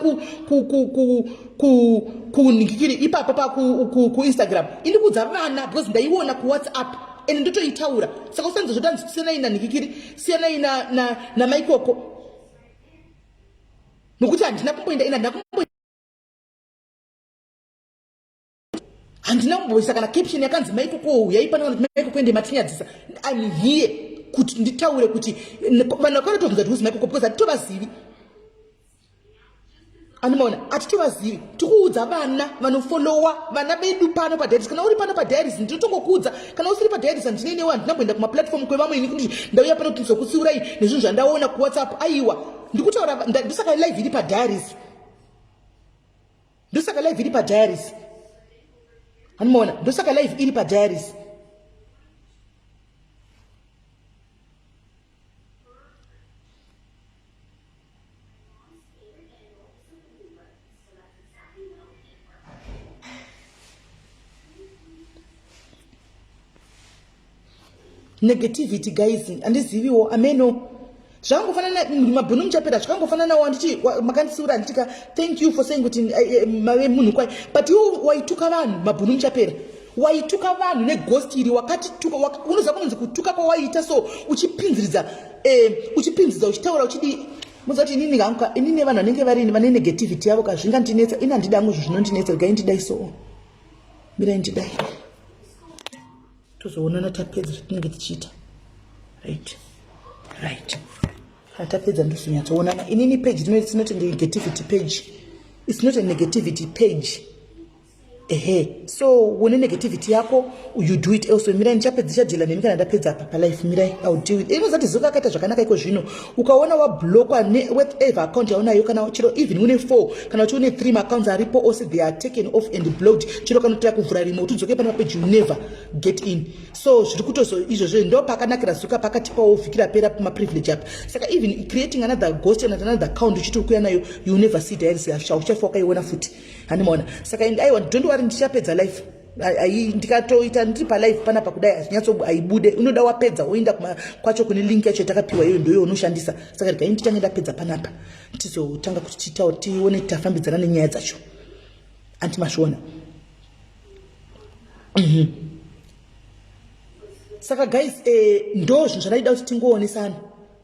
kunhikikiri ipapo pakuinstagram ini kudza vana because ndaiona kuwhatsapp and ndotoitaura saka usanzi zvota siyanai nanhikikiri siyanai namaikoko nokuti handina kumboenda ini handina kumboenda handina kumboisa kana caption yakanzi maiko kouya ipana kana kuti maiko kuende matinyadzisa im here kuti nditaure kuti vanhu vakarotobvunza kuti uzimaiko ko because hatitovazivi anomaona hatitovazivi tikuudza vana vanofolowa vana vedu pano padiaries kana uri pano padiaries ndinotongokuudza kana usiri padiaries handinei newe handina kuenda kumaplatform kwevamwe ini kuti ndauya pano kuti ndizokutsiurai nezvinhu zvandaona kuwhatsapp aiwa ndikutaura ndisaka live iri padiaries ndosaka live iri padiaries animoona ndosaka live iri padiaries negativity guys handiziviwo ameno zvangofanana mabhunu muchapera zvakangofananawo anditi makandisiura anditika thank you for saying kuti eh, eh, mave munhu kwai but iwo waituka vanhu mabhunu muchapera waituka vanhu negost iri wakatituka unoziva kunonzi kutuka kwawaiita so uchipinziridza eh, uchipinziridza uchitaura uchidii muziva kuti inini hangu inini vanhu vanenge varini vane negativity yavo ka zvingandinetsa ini handida ngo zvo zvinondinetsa regai ndidai soo mirai ndidai tozoonana tapedza zvatinenge tichiita right right kana tapedza ndosonyatsoonana inini page rino it's not a negativity page it's not a negativity page ehe so une negativity yako you do it also mirai ndichapedza ichadhila nemi kana ndapedza apa palife mirai ill deal with inozati zuka akaita zvakanaka iko zvino ukaona wablokwa newhatever account yaunayo kana chero even une four kana kuti une three maaccounts aripo ose they are taken off and blocked chero kana kutoya kuvhura rimwe kuti udzoke pane mapeji never get in so zviri kutozo izvozvo ndo pakanakira zuka pakati pawo vhiki rapera pamaprivilege api saka even creating another ghost and another account uchiti uri kuya nayo you never see diaries yasha uchafa wakaiona futi handimaona saka and aiwa don't worry ndichapedza life ndikatoita ndiri palive panapa kudai hazvinyatso haibude unoda wapedza woenda kwacho kune link yacho yatakapiwa iyoyo ndoyo unoshandisa saka regai ndichange ndapedza panapa tizotanga kuti tiitawo tione tafambidzana nenyaya dzacho anti masviona mhm. saka guys eh, ndo zvinhu zvataida kuti tingoonesana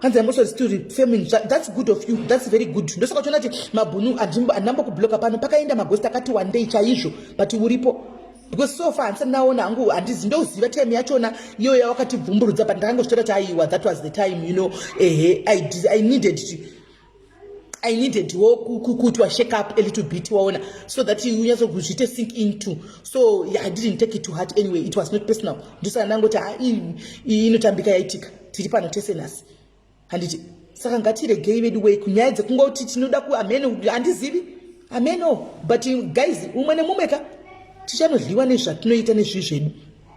hanzi ambosodzi to refaming thats good of you thats very good ndosaka uchiona kuti mabhunu handinambo kubloka pano pakaenda magosti akati wandei chaizvo but uripo because so far handisati ndaona hangu handizi ndoziva time yachona iyo yawakatibvumburudza but ndakangozvitaura kuti aiwa that was the time you know ehe i, I needed to I needed wo kuti wa shake up a little bit waona so that unyatso kuzviite sink into so yeah, I didn't take it to heart anyway it was not personal ndosaka ndangoti ha inotambika yaitika tiri pano tese nhasi handiti saka ngatiregei vedu wei kunyaya dzekungoti tinoda ku ameno handizivi ameno but guys umwe nemumwe ka tichanodliwa nezvatinoita nezvii zvedu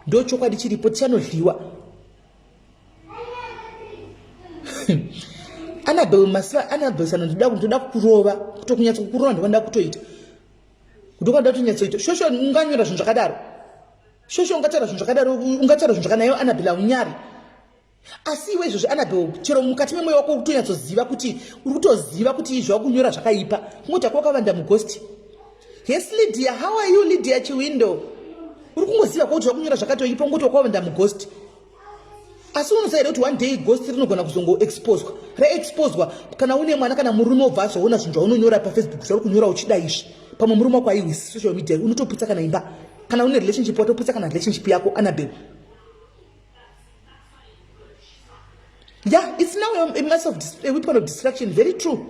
ndochokwadi chiripo tichanodliwa anabel masiva anabel sana ndoda ndoda kukurova kutokunyatsa kukurova ndokwandoda kutoita ndokwandoda kutonyatsoita shosho unganyora zvinhu zvakadaro shosho ungataura zvinhu zvakadaro ungataura zvinhu zvakanayo anabel aunyari asi iwe izvozvi anabel chero mukati memoyo wako kutonyatsoziva kuti uri kutoziva kuti izvo wakunyora zvakaipa kungoti ako wakavanda mugosti Yes Lydia, how are you Lydia Chiwindo? Uri kungoziva kuti wakunyora zvakati wachipa ngokuti wakaenda mughost. Asi unosaira kuti one day ghost rinogona kuzongo exposwa. Ra exposwa kana une mwana kana murume obva azoona zvinhu zvaunonyora pa Facebook zvauri kunyora uchida izvi. Pamwe murume wako aiwisi social media unotoputsa kana imba. Kana une relationship watoputsa kana relationship yako Annabelle. Yeah, it's now a, a mass of a weapon of distraction. Very true.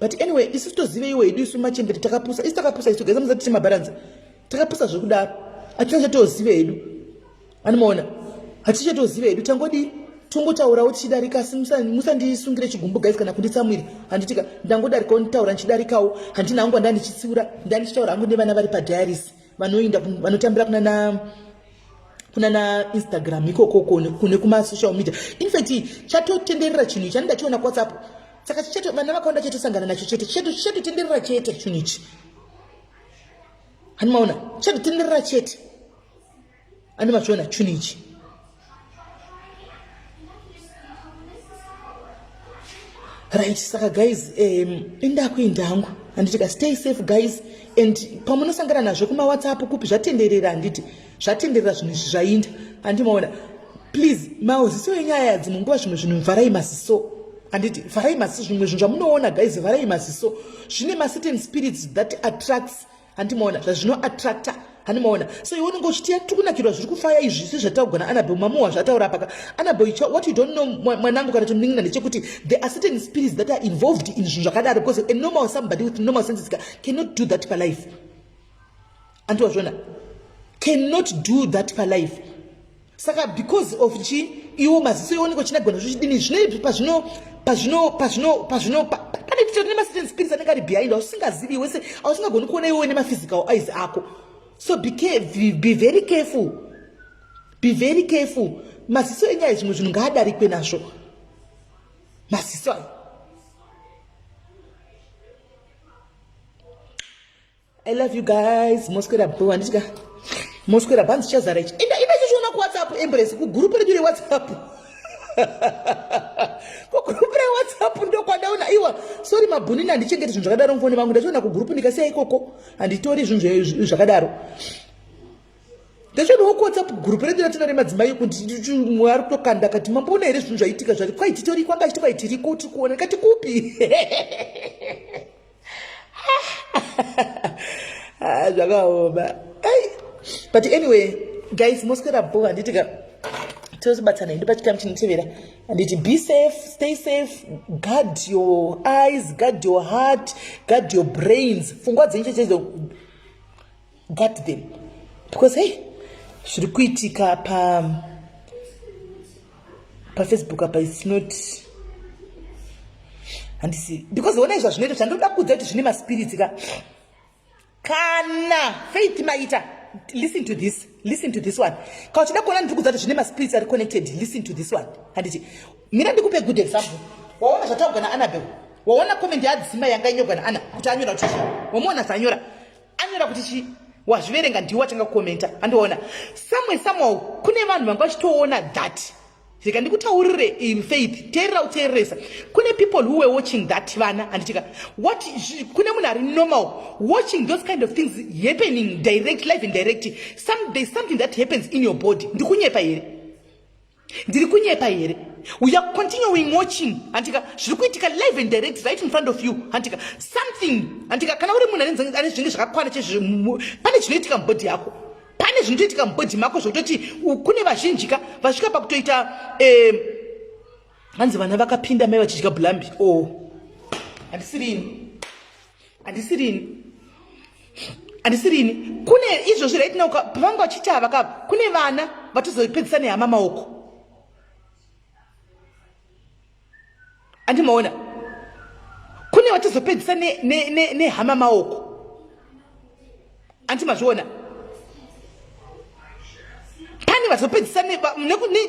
but anyway isu tozive iwe idu isu machembere takapusa isu takapusa isu geza musati timabharanza takapusa zvekudaro hatina chatozive hedu anomaona hatina chatozive hedu tangodii tongotaurawo tichidarika asi musandisungire chigumbu gais kana kunditsamwira handitika ndangodarikawo nditaura ndichidarikawo handina hangu anda ndichitsiura nda ndichitaura hangu nevana vari padiaris vanoinda vanotambira kunana kunana instagram ikokoko kune kumasocial media infact chatotenderera chinhu ichi ani ndachiona kuwhatsapp saka chichetu vana vakawanda chetu sangana nacho chete chetu chetu tenderera chete chinhu ichi hani maona chetu tenderera chete ani machiona chinhu ichi right saka guys um, indakuinda hangu handiti ka stay safe guys and pamunosangana nazvo kumawhatsapp kupi zvatenderera handiti zvatenderera zvinhu izvi zvainda andimaona please mauziso enyaya yadzimwe nguva zvimwe zvinhu mvharai maziso handiti vharai maziso zvimwe zvinhu zvamunoona guys vharai maziso zvine macertain spirits that attracts handimaona zvazvino attracta handimaona so iwe unenge uchitiya tiri kunakirwa zviri kufaya izvi si zvataugona anabel mamuwa zvataura paka anabel what you don't know mwanangu kana tonin'ina ndechekuti the acertain spirits that are involved in zvinhu zvakadaro because a normal somebody with normal senses cannot do that palife anti wazviona cannot do that palife saka because of chi iwo maziso ioneka chinagona zvochidini zvinei pazvino pazvino pazvino pazvino pane titori nemacertain spirits anenge ari behind ausingazivi wese ausingagoni kuona iwewe nemaphysical eyes ako so be, be, be very careful be very careful maziso enyaya zvimwe zvinhu ngaadarikwe nazvo maziso ayo I love you guys. Mosquera boo anditika. Mosquera banzi chazara ichi. Enda enda chiona ku WhatsApp embrace ku group redu re WhatsApp. Ku group re WhatsApp ndo kwadaona iwa. Sorry mabhunini andichengeti zvinhu zvakadaro mfoni vangu ndachiona ku group ndikasiya ikoko anditori zvinhu zvakadaro. Ndachiona ku WhatsApp group redu ratinare madzimai kuti mwe ari kutokanda kati mamboona here zvinhu zvaitika zvati kwai titori kwanga chitikwa itiriko tikuona kati kupi. zvakaoma but anyway guys moswera bo handiti ka tozobatsana hedu pachikamu chinotevera handiti be safe stay safe guard your eyes guard your heart guard your brains pfungwa dzenyu chechezo guard them because hey zviri kuitika pa pafacebook apa its not handisi because ona izva zvinoita zvandoda kuudza kuti zvine maspirits ka kana faith maita listen to this listen to this one ka uchida kuona ndiri kuudza kuti zvine maspirits ari connected listen to this one handiti mira ndikupe good example waona zvataugwa naanabel waona comment yaadzima yanga inyogwa naana kuti anyora kuti wamuona zvanyora anyora kuti chii wazviverenga ndiwe watanga kukomenta andiona samwe samwao kune vanhu vanga vachitoona that rega ndikutaurire in faith teerera uteereresa kune people who were watching that vana handitika what kune munhu ari normal watching those kind of things happening direct live and direct some, there's something that happens in your body ndikunyepa here ndiri kunyepa here we are continuing watching handika zviri kuitika live and direct right in front of you handika something handika kana uri munhu ane zvinenge zvakakwana chezvo pane zvinoitika mubhodhi yako pane zvinotoitika mubhodhi mako zvokutoti kune vazhinjika vasvika pakutoita eh, hanzi vana vakapinda mai vachidya blambi o oh. handisirini handisirini handisirini kune izvo zviraitinoka pavanga vachiti havaka kune vana vatozopedzisa nehama maoko andimaona kune vatozopedzisa nehama maoko anti mazviona pane vazopedzisa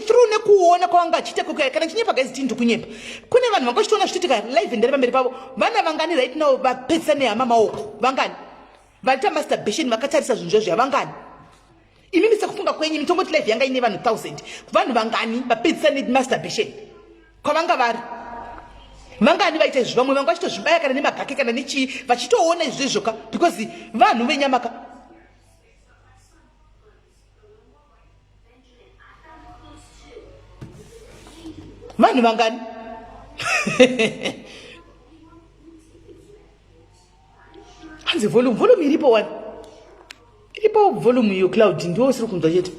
through nekuona kwavanga vachiita kuka kana chinyepa guys tindu kunyepa kune vanhu vanga vachitoona zvichiitika live ndari pamberi pavo vana vangani right now vapedzisa nehama maoko vangani vaita masturbation vakatarisa zvinhu zvazvo yavangani imimi sekufunga kwenyu mitongoti life yanga ine vanhu thousand vanhu vangani vapedzisa nemasturbation kwavanga vari vangani vaita izvi vamwe vanga vachitozvibaya kana nemagake kana nechii vachitoona izvi zvezvoka because vanhu venyamaka vanhu vangani hanzi volume volume iripo wani iripo volume iyo cloud ndiwo usiri kunzwa chete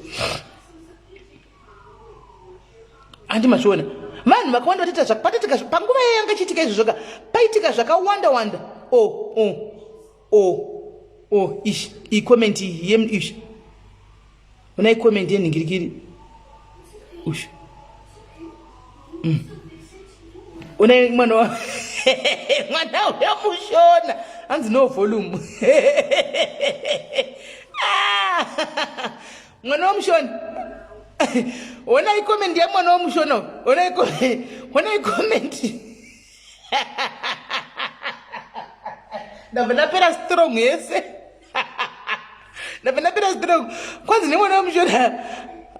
handi machiona vanhu vakawanda vatiita zvakapatitika panguva yayo yanga chiitika izvo zvoga paitika zvakawanda wanda o oh, o oh, o oh, o oh, ish ikomendi yem ish Ona i comment ye nhingirikiri. Ush. Mm. Ona mwana wa mwana uya mushona. Hanzi no volume. Ah! Mwana wa mushona. Ona i comment ye mwana wa mushona. Ona i comment. Ona i comment. Ndabva ndapera strong yese. ndapenapera zipera kwanzi nemwana wemushona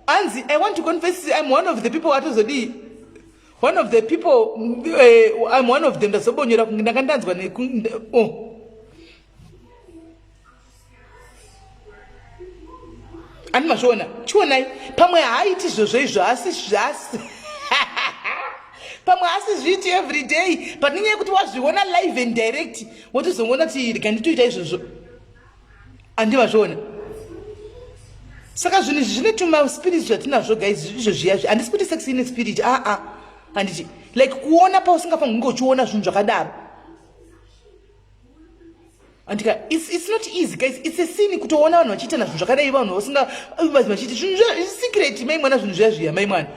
anzi i want to confess im one of the people atozodii one of the people uh, im one of them ndazobonyora kunge ndanga ndanzwa oh. ani mazviona chionai pamwe haaiti izvozvo izvo asi zvasi pamwe asi zviiti every day but nenyaya yekuti wazviona live and direct wotozongoona kuti rega nditoita izvozvo andivazviona saka zvinhu izvi zvine tuma spirit zvatinazvo guys izvo zviya zvi handisi kuti sex ine spirit aa ah, ah. handiti like kuona pausingafanira kunge uchiona zvinhu zvakadaro andika it's, it's not easy guys it's a sin kutoona vanhu vachiitana zvinhu zvakadai vanhu vasinga vachiita zvinhu zvisikireti mai mwana zvinhu zviya zviya mai mwana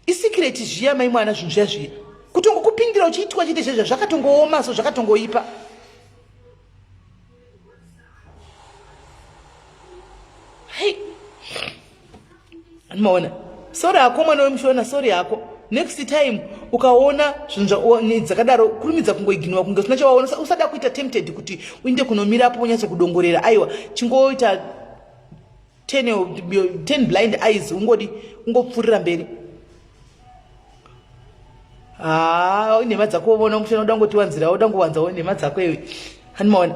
isikireti zviya mai mwana zvinhu zviya zviya kutongokupindira uchiitwa chete zvezva zvakatongooma so zvakatongoipa hei maona sori hako mwana wemushona sori hako next time ukaona zvinhu dzakadaro kurumidza kungoiginowa kunge usina chawaona usada kuita tempted kuti uinde kunomira apo unyatsokudongorera aiwa chingoita ten, ten blind eyes ungodi ungopfurira mberi haa nhema dzako vona mushana uda ngotiwanzirawo uda ngowanzawo nhema dzako iwe handimaona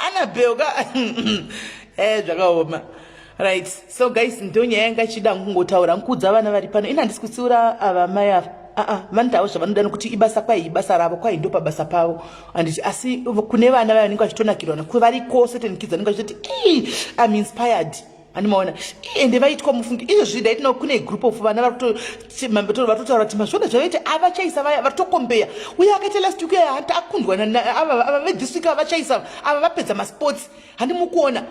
anabel ka e zvakaoma Right, so guys ndonyaya yanga ichida kungotaura nkuudza vana vari pano ini handisi kutsiura ava mai ava aa ah, ah, vanotawo zvavanoda nokuti ibasa kwai ibasa ravo kwai ndo pabasa pavo anditi asi kune vana vayo vanenge vachitonakirwa nokuti vari kose tenikidza vanenge vachitoti ii am inspired andimaona ende vaitwa mufungi izvozvi ndaitinawo kune group of vana vatotaura kuti mazvona zvavaita avachaisa vaya vatokombeya uye akaita last week aya hati akundwa ava vethis week avachaisa ava vapedza masports handimukuona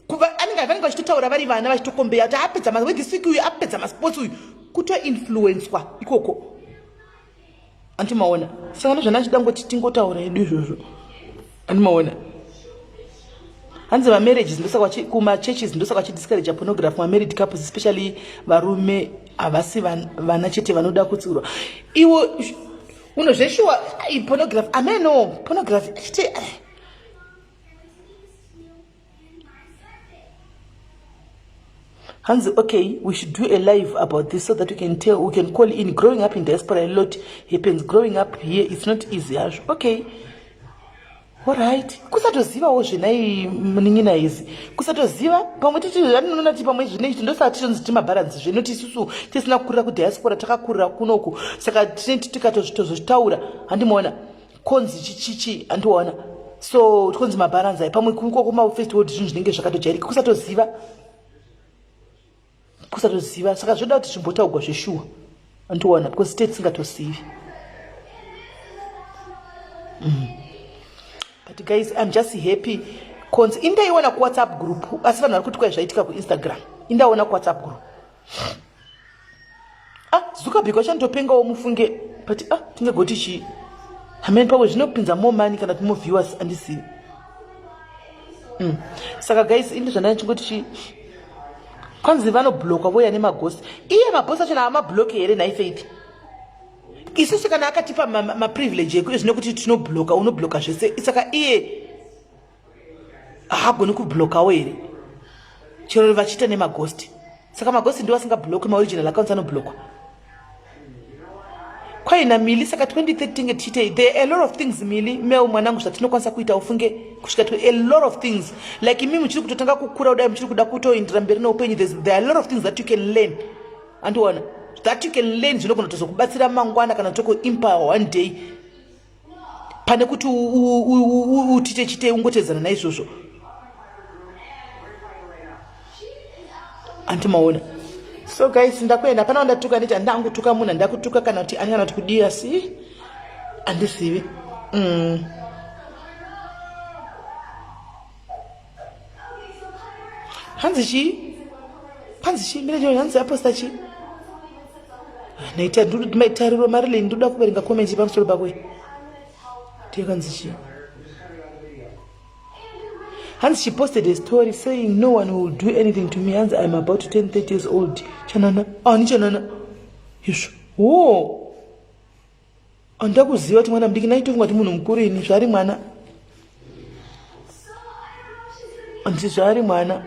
vanenge vachitotaura vari vana vachitokombeya kuti apedza this week uyu apedza masports uyu kutoinfluenswa ikoko andimaona saka nezvana achida ngoti tingotaura edu izvozvo andimaona hanzi mamarriages ndosaka kumachurches ndosaka vachidiscouraja pornography mamarried couples especially varume havasi vana chete vanoda kutsiurwa iwo unozveshuwa pornography ameno pornography achiti hanzi okay we should do a live about this so that we can tell we can call in growing up in diaspora a lot happens growing up here it's not easy hazvo okay orit kusatozivawo zvenai munin'ina izi kusatoziva pamwe titianoona ti pamwe zvine ichi ndosaka tichonzi timabharanzi zvino tisusu tisina kukurira kudiaspora takakurira kunoku saka tineti tikatozvitozvitaura handimaona konzi chichichi andiona so tikonzi mabharanzai pamwe kuikoko mafirst world zvinhu zvinenge zvakatojairika kusatoziva kusatoziva saka zvoda kuti zvimbotaugwa zveshuwa andiona because state singatozivi mm. but guys im just happy konzi indaiona kuwhatsapp group asi vanhu vari kuti kwai zvaitika kuinstagram indaona kuwhatsapp group ah zuckerberg wachandopengawo mufunge but ah tingagoti chii hameni pawe zvinopinza more money kana kuti more viewers andisivi mm. saka guys ini zvandai chingoti chii kwanzi vanobloka voya nemagosi iye magosi achona amabloke here nhai faith isusu kana akatipa maprivilege ma, ma ekuti zvine kuti tinobloka unobloka zvese saka iye haagoni kublokawo here chero vachiita nemagosti saka magosti ndiwo asingabloki maoriginal accounts anoblokwa kwaina mili saka 2013 tiite there a lot of things mili mel mwanangu zvatinokwanisa kuita ufunge kusvika to a lot of things like imi muchiri kutotanga kukura kudai muchiri kuda kutoindira mberi neupenyu there are a lot of things that you can learn andiona that you can learn zvinogona tozokubatsira mangwana kana tokuimpa one day pane kuti utite chite ungotedzana naizvozvo anti maona so guys ndakuenda hapana wandatuka nditi handida angutuka munhu handida kutuka kana kuti ani kana kuti kudii asi handizivi mm. hanzi chii hanzi chii mira chii hanzi aposta chii naita tariro marilyn ndoda kuverenga komenti pamusoro pako tikanzi chii hanzi she posted a story saying no one will do anything to me hanzi iam about to turn 30 years old chanana ani ah, chanana izvo wo Handida kuziva kuti mwana mudiki ndaitofunga kuti munhu mukuru ini zvaari mwana. Handisi zvaari mwana.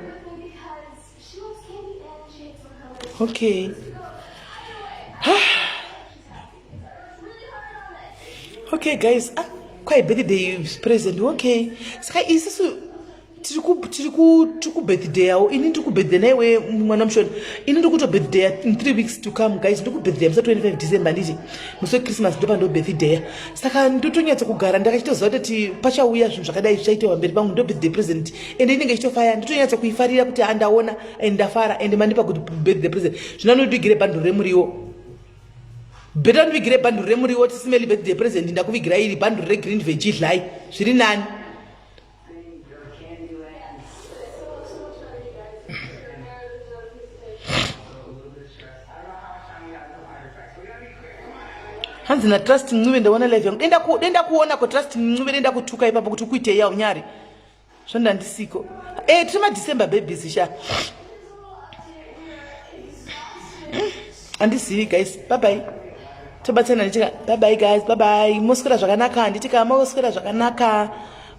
Okay. okay guys ah, kwahi birthday present okay saka isisu tiri kubirthdayawo ini ndiri kubirthday naiwe mwana mushoni ini ndiri kuto birthday in three weeks to come guys ndiri kubirthday musa 25 december nditi musi wechristmas ndopa ndo birthday saka ndotonyatsa kugara ndakachitoziva kuti pachauya zvinhu zvakadai zvichaitewa mberi pangu ndo birthday present and inenge ichitofaya ndotonyatsa kuifarira kuti andaona and ndafara and mandipa kuti birthday present zvino anodigire bhanduro remuriwo beta ndivigire bhanduru remuriwo tisimeli birthday present ndakuvigira iri bhanduru regreen vegidly zviri nani hanzi natrust mncube ndaona live yangu denda kuona ko trust mncube denda kutuka ipapo kuti ukuitei yaunyari zvandandisiko e eh, tiri madecember babies sha andizivi guys babai tobatsirana nditika babai guys babai moswera zvakanaka handitika moswera zvakanaka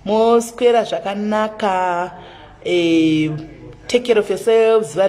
moswera zvakanaka eh, take care of yourselves